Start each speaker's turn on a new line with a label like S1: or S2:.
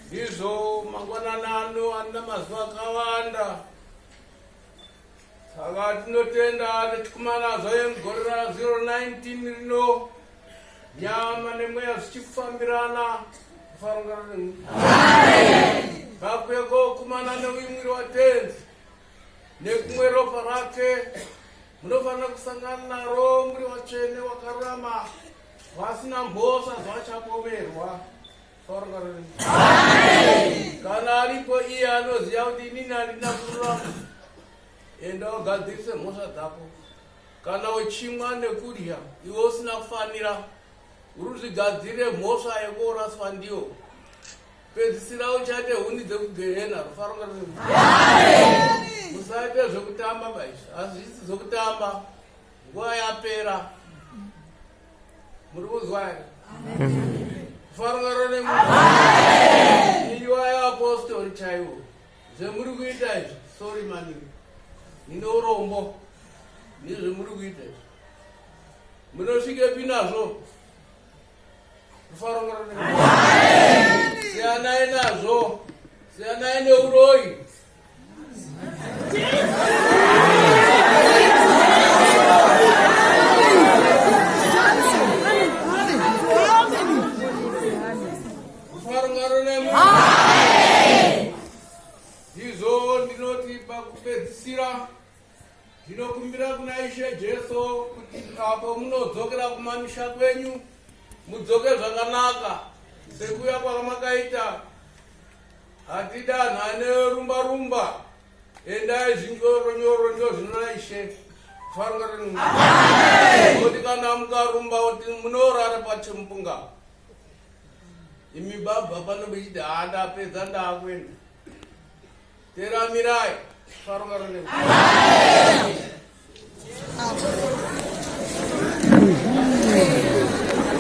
S1: Ndizvo mangwanana ano ana mazuva akawanda saka tinotenda nechikumana zvaye mugore ra 019 rino nyama nemweya zvichikufambirana kufarungana nemu vakweko kumana neuyu mwiri watenzi nekumwe ropa rake munofanira kusangana naro muri watsvene wakarurama vasina mhosva zvachapomerwa kana aripo iye anoziva kuti inini andina kururama enda ugadzirise mhosva dzako kana uchimwa nekudya iwe usina kufanira ruzvigadzire mhosva yekoraswa ndiyo pedzisira uchate huni dzekugehena rufaronga musaite zvekutamba maizvi hazvisi zvekutamba nguva yapera muri kunzwa here kufarungaro neiwayo apostori chaiwo zvemuri kuita izvi sori maningi nine urombo nezvemuri kuita izvi munosvike pi nazvo kufarungaro siyanai nazvo siyanai neuroyi ndinokumbira kuna ishe jesu kuti apo munodzokera kumamisha kwenyu mudzoke zvakanaka sekuya kwamakaita Hatidanhane rumba rumba. Endai zvinyoro nyoro ndio zvinoda ishe. Farunga rinu. Amen. Kuti kana mukarumba kuti munorara pachimpunga. Imi baba pano bechida hada pedza ndakwenda. Teramirai. Farunga rinu. Amen.